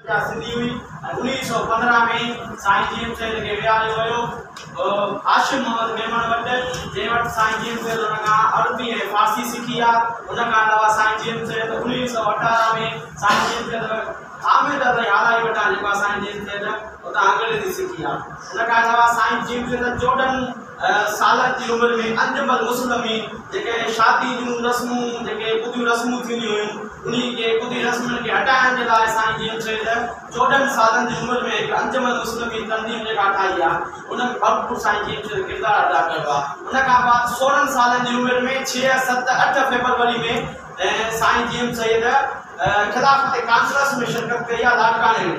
جا سنڌي هئي ۽ انويهه سؤ پندرهن ۾ سائين جي ايم سيد کي ويهاريو ويو هاشم محمد ميمڻ وٽ جنهن وٽ سائين جي ايم سيد ان کان عربي ۽ فارسي سکي آ ان کان علاوه سائين جي ايم سيد انويهه سؤ اٺارهن ۾ سائين جي ايم سيد حامد علي هارائي وٽان جيڪو آ سائين جي ايم سيد اتان انگريزي سکي آ ان کان علاوه سائين جي ايم سيد چوڏهن سالن جي عمر ۾ انجم المسلمين جيڪي شادي جون رسمون جيڪي ٻڌيون رسمون ٿينديون هيون انهي کي ٻڌي رسمن کي هٽائڻ جي لاء سائين جن چي ته چوڏهن سالن جي عمر ۾ هڪ انجم المسلمين تنظيم جيڪا ٺاهي آ ان ۾ ڀرپور سائين جن چي ته ڪردار ادا ڪيو آ ان کان بعد سورهن سالن جي عمر ۾ ڇهه ست اٺ فيبروري ۾ سائين جي ايم سيد خلافت ڪانفرنس ۾ شرڪت ڪئي آ لاڙڪاڻي ۾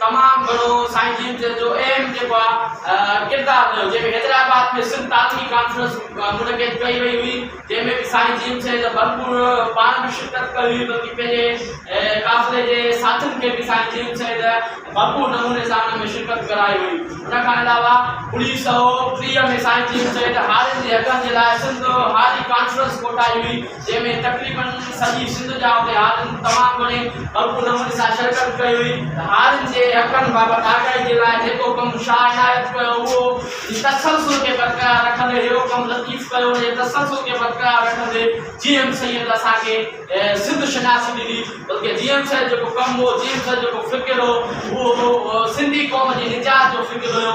تمام گهڻو سائين جن جن جو اهم جيڪو آ ڪردار رهيو جنهن ۾ حيدرآباد ۾ سنڌ تعليمي ڪانفرنس منعقد ڪئي وئي هئي جنهن ۾ به سائين جن جن جا ڀرپور پاڻ به شرڪت ڪئي هئي بلڪه پنهنجي قافلي جي ساٿين کي به سائين جن جن جا ڀرپور نموني سان ان ۾ شرڪت ڪرائي هئي ان کان علاوه انيس سئو ٽيهه ۾ سائين جن جن هارين جي حقن جي لاء سنڌ هاري ڪانفرنس ڪوٺائي هئي جنهن ۾ تقريبن سڄي سنڌ جا اتي عالم تمام گهڻي ڀرپور نموني سان شرڪت ڪئي هئي ته عالم جي حقن بابت آگاهي جي لاء جيڪو ڪم شاهه عنايت ڪيو هو اهو جي تسلسل کي برقرار رکندي هيرو ڪم لطيف ڪيو ان جي تسلسل کي برقرار رکندي جي ايم سيد اسان کي سنڌ شناسي ڏني بلڪه جي ايم سيد جيڪو ڪم هو جي ايم سيد جيڪو فڪر هو اهو سنڌي قوم جي نجات جو فڪر هيو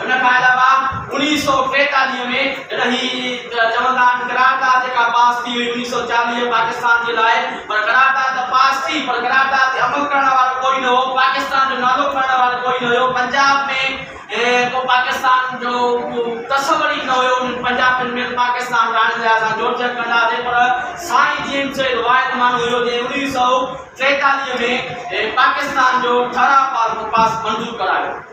ان کان علاوه اوڻيهه سؤ ٽيتاليهه ۾ جڏهن هي چوندا آهن قرارداد جيڪا پاس ٿي هئي اوڻيهه سؤ چاليهه پاڪستان جي لاء پر قرارداد ته پاس ٿي پر قرارداد تي عمل ڪرڻ وارو ڪوئي نه هو پاڪستان جو نالو کڻڻ وارو ڪوئي نه هيو پنجاب ۾ ڪو پاڪستان جو ڪو تصور ئي نه هيو انهن پنجابين ۾ ته پاڪستان راڻين جا اسان جوڙجڪ ڪنداسين پر سائين جيمس سيد واحد ماڻهو هيو جنهن اوڻيهه سؤ ٽيتاليهه ۾ پاڪستان جو ٺهراء پاس منظور ڪرايو.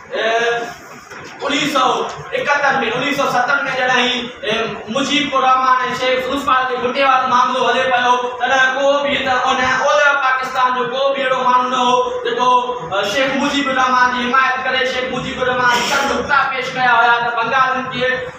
انويهه سؤ ايڪهتر ۾ انويهه سؤ ستن ۾ جڏهن هي مجيب الرحمان ۽ شيخ فروزخان جي ڦٽي وارو معاملو هلي پيو تڏهن ڪو به هت ان اولهه پاڪستان جو ڪو به اهڙو ماڻهو نه هو جيڪو شيخ مجيب الرحمان جي حمايت ڪري شيخ مجيب الرحمان سر نقطا پيش ڪيا هيا ته بنگالين کي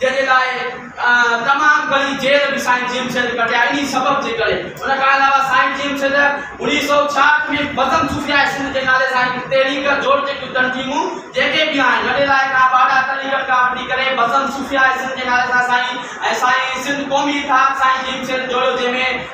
جنهن جي لاء تمام گهڻي جيل به سائين جيم شيد ڪٽي آهي انهي سبب جي ڪري ان کان علاوه سائين جيم شيد اڻيهه سؤ ڇاهٺ ۾ بزم صوفياء سنڌ جي نالي سان هڪ تحريڪ جوڙ جيڪيون تنظيمون جيڪي به آهن وڏي لاء کان باڊا تحريڪن کان وٺي ڪري بزم صوفياء سنڌ جي نالي سان سائين ۽ سائين سنڌ قومي اتحاد سائين جيم شيد جوڙيو جنهن ۾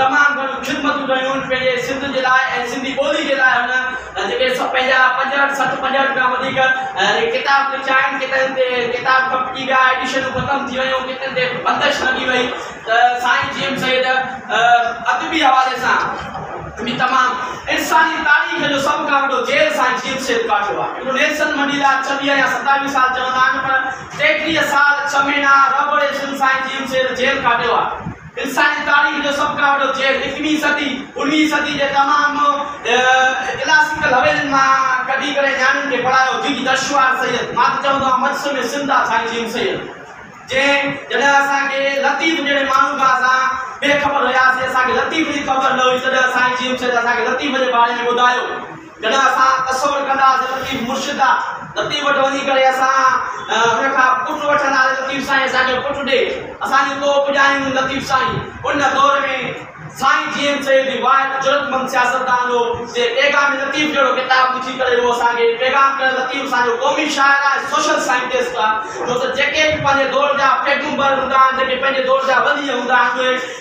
تمام گهڻيون خدمتون ڪيون هن پنهنجي سنڌ جي لاء ۽ سنڌي ٻولي جي لاء هن جيڪي پنهنجا پنجهٺ سٺ پنجهٺ کان وڌيڪ ڪتاب لکيا آهن ڪيترن تي ڪتاب ڪپجي ويا ايڊيشنون ختم ٿي ويون ڪيترن تي بندش لڳي وئي ته سائين جي ايم سيد ادبي حوالي سان به تمام انساني تاريخ جو سڀ کان وڏو جيل سائين جي ايم سيد ڪاٽيو آهي هڪڙو نيلسن منڊيلا ڇويهه يا ستاويهه سال چوندا آهن پر ٽيٽيهه سال ڇهه مهينا رب اڙي سن سائين جي ايم سيد جيل ڪاٽيو آهي انساني تاريخ جو سڀ کان وڏو جهيڙ اڪويهين صدي، اڻويهين صدي جي تمام ڪلاسيڪل حويلين مان ڪڍي ڪري نياڻين کي پڙهايو جن جي درشوار سيد، مان ته چوندو آهيان مجس ۾ زنده سائين جيم سيد جنهن جڏهن اسان کي لطيف جهڙي ماڻهو کان اسان بي خبر هياسين اسان کي لطيف جي خبر نه هئي تڏهن سائين جيم سيد اسان کي لطيف جي باري ۾ ٻڌايو. جڏهن اسان تصور ڪنداسين لطيف مرشد آ لطيف وٽ وڃي ڪري اسان ان کان پٽ وٺنداسين لطيف سائين اسان کي پٽ ڏي اسان جي ڪوهه پڄائين لطيف سائين ان دور ۾ سائين جي ايم سيد هي واحد جرئتمند سياستدان هو جنهن پيغام لطيف جهڙو ڪتاب لکي ڪري اهو اسان کي پيغام ڏنل لطيف اسان جو قومي شاعر آ ۽ سوشل سائنٽسٽ آ ڇو ته جيڪي به پنهنجي دور جا پيغمبر هوندا آهن جيڪي پنهنجي دور جا ولي هوندا آهن اهي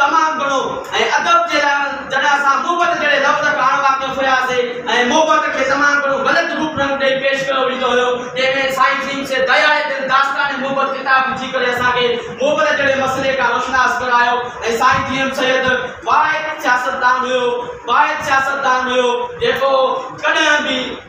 تمام گهڻو ۽ ادب جي لاء جڏهن اسان محبت جهڙي لفظ کان اڻ واقف هياسين ۽ محبت کي تمام گهڻو غلط روپ رنگ ڏئي پيش ڪيو ويندو هيو تنهن ۾ سائين ڀيم سيد ديالي جن داستان محبت ڪتاب لکي ڪري اسان کي محبت جهڙي مسئلي کان روشناس ڪرايو ۽ سائين ڀيم سيد واحد سياستدان هيو واحد سياستدان هيو جيڪو ڪڏهن به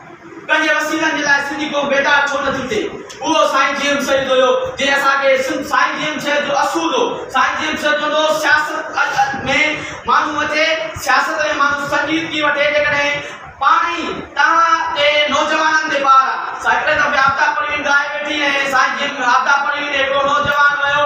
پنهنجي وسيلن جي لاء سنڌي قوم بيدار ڇو نه ٿي ٿئي؟ اهو سائين جي ايم سيد هيو جنهن اسان کي سنڌ سائين جي ايم سيد جو اصول هو سائين جي ايم سيد چوندو هو سياست ادب ۾ ماڻهو وٺي سياست ۾ ماڻهو سنگيت ڪي وٺي جيڪڏهن پاڻ ئي توهان تي نوجوانن تي بار آ سائين هڪڙي دفعي آفتاب پروين ڳائي ويٺي ۽ سائين جي ايم آفتاب پروين هڪڙو نوجوان ويو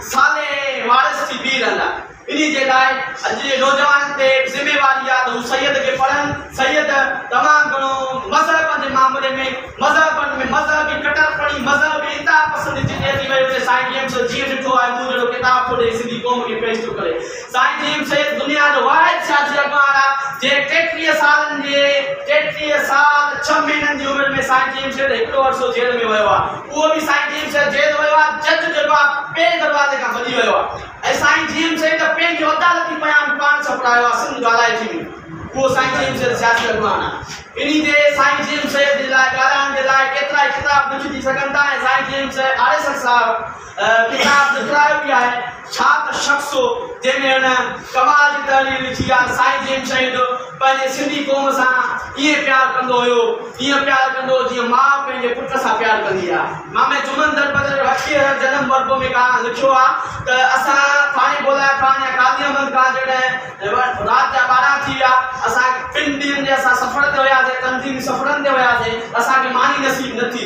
صالح وارث ٿي بيهي رهندا. انهي جي لاء اڄ جي نوجوانن تي به ذميواري آ ته هو سيد کي پڙهن. سيد تمام گهڻو مذهب جي معاملي ۾ مذهبن ۾ مذهبي ڪٽرپڻي، مذهبي انتها پسندي جتي اچي ويئي اتي سائين جي ايم سيد جيئن ڏٺو آهي مون جهڙو ڪتاب ٿو ڏئي سنڌي قوم کي پيش ٿو ڪري. سائين جي ايم سيد دنيا جو واحد سياسي اڳواڻ آ جنهن ٽيٽيهه سالن جي ٽيٽيهه سال ڇهه مهينن جي عمر ۾ سائين جي ايم سيد هڪڙو عرصو جيل ۾ ويو آ. اهو به سائين جيئن شيخ جيل ويو آهي، جج جيڪو آهي پنهنجي دروازي کان ڀڄي ويو آهي ۽ سائين جيئن شيخ ته پنهنجو عدالتي بيان پاڻ ڇپرايو آهي سنڌ ڳالهائي ٿي وئي اهو سائين جيئن شيخ سياسي اڳواڻ آهي انهي تي سائين جيئن شيخ جي لاء ڳالهائڻ جي لاء ڪيترائي ڪتاب لکجي سگهن ٿا ۽ سائين جيئن شيخ آريسر صاحب ڪتاب لکرايو به آهي. ڇا ته شخص هو، جنهن ۾ هن ڪمال جي تحرير لکي آ، سائين جيئن شهيد پنهنجي سنڌي قوم سان ائين پيار ڪندو هيو، ائين پيار ڪندو هو جيئن ماء پنهنجي پٽ سان پيار ڪندي آ. مامي جمن درپدر جو هٺيهه هر جنم وربو ۾ ڪانه لکيو آ ته اسان ٿاڻي بولاء خان يا قاضي احمد خان جڏهن رات جا ٻارهن ٿي ويا، اسان ٻن ڏينهن جي اسان سفر تي وياسين، تنظيمي سفرن تي وياسين، اسان کي ماني نصيب نه ٿي.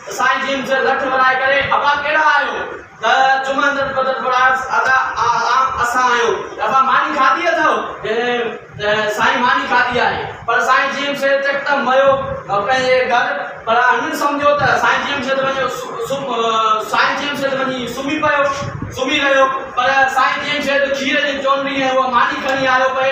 سائين جن سر لٺ ورائي ڪري ابا ڪهڙا آهيو ته جمعه اندر بدر پڙهائيس ادا عام اسان آهيون ته ابا ماني کاڌي اٿئو ته سائين ماني کاڌي آهي پر سائين جن سر يڪدم ويو پنهنجي گهر پر هنن سمجهيو ته سائين جن سر وڃي سائين جن سر وڃي سمهي پيو سمهي رهيو پر سائين جن سر کير جي چونڊي ۽ اها ماني کڻي آيو پئي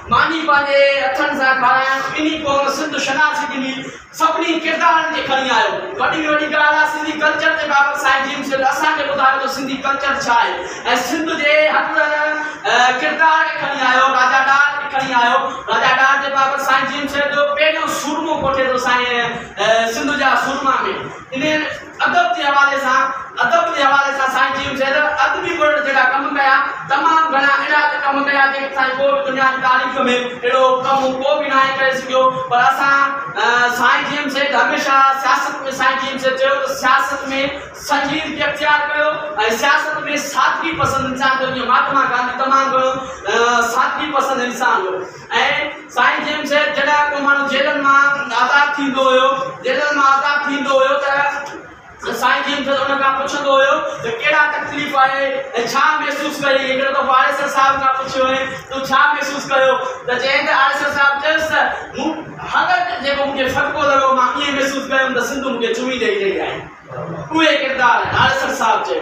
ماني پنهنجي هٿن سان کارائڻ انهي قوم سنڌ شناسي ڏني سڀني ڪردارن کي کڻي آيو وڏي ۾ وڏي ڳالهه آهي سنڌي ڪلچر جي بابت سائين جيم سيد اسان کي ٻڌايو ته سنڌي ڪلچر ڇا آهي ۽ سنڌ جي هر ڪردار کي کڻي آيو راجا ڏاهر کي کڻي آيو راجا ڏاهر جي بابت سائين جيم سيد جو پهريون سورمو ڪوٺي ٿو سائين سنڌ جا سورما ۾ انهي ادب جي حوالي سان ادب جي حوالي سان سائين چيم سيد ادبي ورلڊ جيڏا ڪم ڪيا تمام گهڻا اهڙا ته ڪم ڪيا جيڪي سائين ڪو به دنيا جي تاريخ ۾ اهڙو ڪم ڪو به ناهي ڪري سگهيو پر اسان سائين چيم سيد هميشه سياست ۾ سائين چيم سيد چيو ته سياست ۾ سنجيدگي اختيار ڪيو ۽ سياست ۾ سادگي پسند انسان ٿيو جيئن مهاتما گانڌي تمام گهڻو سادگي پسند انسان هو ۽ سائين جيمس صاحب جڏهن ڪو ماڻهو جيلن مان آزاد ٿيندو هيو جيلن مان آزاد ٿيندو هيو ته سائين جيمس صاحب ان کان پڇندو هيو ته ڪهڙا تڪليف آهي ۽ ڇا محسوس ڪيئي هڪ دفعو پاڙيسر صاحب کان پڇيو هئي تو ڇا محسوس ڪيو ته چيائين ته آڙيسر صاحب چيس ته مون هر جيڪو مون کي ڦٽڪو لڳو مان ائين محسوس ڪيم ته سنڌ مون کي چمي ڏئي رهي آهي اهي ڪردار آهن آڙيسر صاحب چيو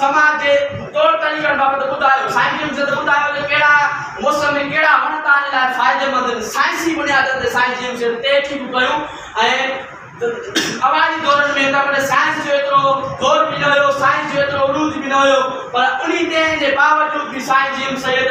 سماج جي طور طريقن بابت ٻڌايو. سائين جن سنڌ ٻڌايو ته ڪهڙا موسم ۾ ڪهڙا وڻ توهان لاء فائديمند آهن. سائنسي بنيادن تي سائين جن سنڌ تحقيقون ڪيون ۽ اوائلي دورن ۾ هن وٽ سائنس جو ايترو زور به نه هيو، سائنس جو ايترو عروج به نه هيو پر انهي تنهن جي باوجود به سائين جن سيد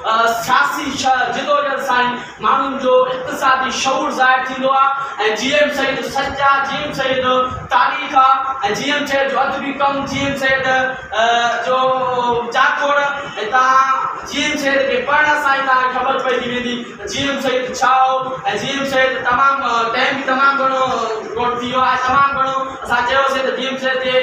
سياسي شھر جدوجھد سان ئي ماڻھن جو اقتصادي شعور ظاھر ٿيندو آ ۽ جي ايم سيد جو سچ آ، جي ايم سيد جو تاريخ آ ۽ جي ايم سيد جو ادبي ڪم، جي ايم سيد جو جاکوڙ ۽ تان جي ايم سيد کي پڙھڻ سان ئي تان کي خبر پئجي ويندي ته جي ايم سيد ڇا ھو ۽ جي ايم سيد تمام ٽيم به تمام گھڻو گھڻو ٿي ويو آ ۽ تمام گھڻو اسان چيوسين ته ڊي ايم سي جي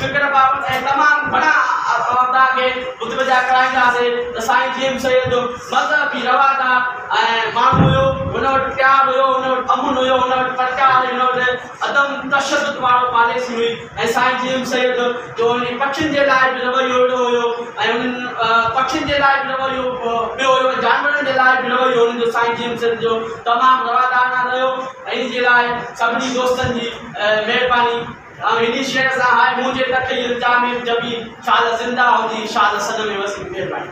فڪر بابت ۽ تمام گهڻا اوهادا کي متوجهه ڪرائينداسين ته سائين ڊي ايم سي جو مذهبي روادار ۽ ماڻهو هيو، هن وٽ پيار هيو، هن وٽ امن هيو، هن وٽ پرچار، هن وٽ عدم تشدد وارو پاليسي هئي ۽ سائين ڊي ايم سي جو انهن پکين جي لاء به رويو اهڙو هيو ۽ انهن پکين جي لاء به رويو ٻيو هيو ۽ جانورن جي لاء به رويو هن جو سائين ڊي ايم سي جو تمام روادارانه رهيو ۽ ان جي لاء سڀني دوستن جي مھرباني آئون ھني شعر سان ھاء مون جي تڪي التيامين جبين شاد زنده ھجين شاد سڏ ۾ وسين مھرباني.